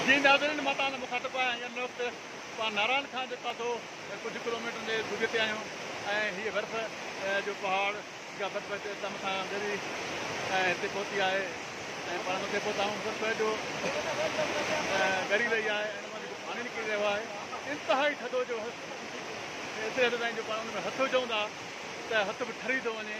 جي ناظرين مان توهان سان مخاطب آهيان ۽ ان وقت توهان نارائڻ خان جي پاسو ڪجهه ڪلوميٽرن جي دوريء تي آهيون ۽ هيء برف جو پهاڙ جا برف هڪدم اسان کان ڳري ۽ هتي پهتي آهي ۽ پاڻ مٿي پهتا آهيون برف جو ڳري رهي آهي ۽ ان مان جيڪو پاڻي نڪري رهيو آهي انتهائي ٿڌو جو ايتري حد تائين جو پاڻ ان ۾ هٿ وجهون ٿا ته هٿ به ٺري ٿو وڃي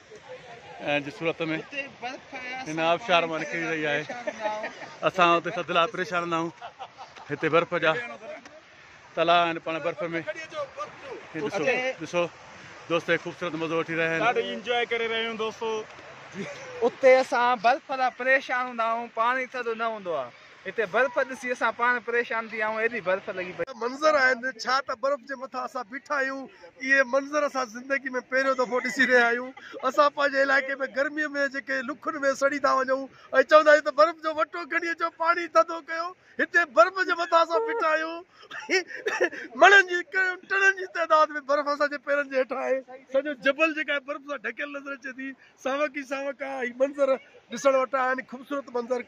جي صورت ۾ هن آبشار مان نڪري رهي آهي اسان اتي سدلا پريشان نه آهيون هتي برف جا تلا آهن پاڻ برف ۾ ڏسو ڏسو دوست خوبصورت مزو وٺي رهيا آهن ڏاڍي انجوائي ڪري رهيا آهيون دوستو اتي اسان برف لا پريشان هوندا آهيون پاڻي ٿڌو نه هوندو آهي هتي برف ڏسي اسان پاڻ پريشان ٿي ويا آهيون ايڏي برف لڳي پئي. منظر آهن ڇا ته برف جي مٿان اسان بيٺا آهيون اهي منظر اسان زندگي ۾ پهريون دفعو ڏسي رهيا آهيون اسان پنهنجي علائقي ۾ گرمي ۾ جيڪي لکن ۾ سڙي ٿا وڃون ۽ چوندا آهيون ته برف جو وٽو کڻي اچو پاڻي ٿڌو ڪيو هتي برف جي مٿان اسان بيٺا آهيون مڻن جي ڪئين ٽنن جي تعداد ۾ برف اسان جي پيرن جي هيٺان آهي سڄو جبل جيڪا آهي برف سان ڍڪيل نظر اچي ٿي ساوڪ ئي ساوڪ آهي هي منظر ڏسڻ وٽان آهن خوبصورت منظر.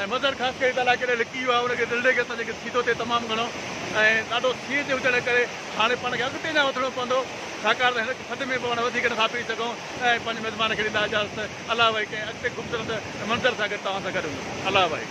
۽ مظهر خاص ڪري تعاليٰ ڪيڏانهن لڪي ويو آهي ان کي دل ڏئي کيس پنهنجي سيڌو تي تمام گهڻو ۽ ڏاڍو سينهن تي هجڻ ڪري هاڻي پاڻ کي اڳتي اڃا وڌڻو پوندو ڇاڪاڻ ته هن کي سڏ ۾ به پاڻ وڌيڪ نٿا پئي سگهون ۽ پنهنجي مزمان کي ڏيندا اجازت الله وائي ڪنهن اڳتي خوبصورت منظر سان گڏ توهان سان گڏ هوندس الله وائي.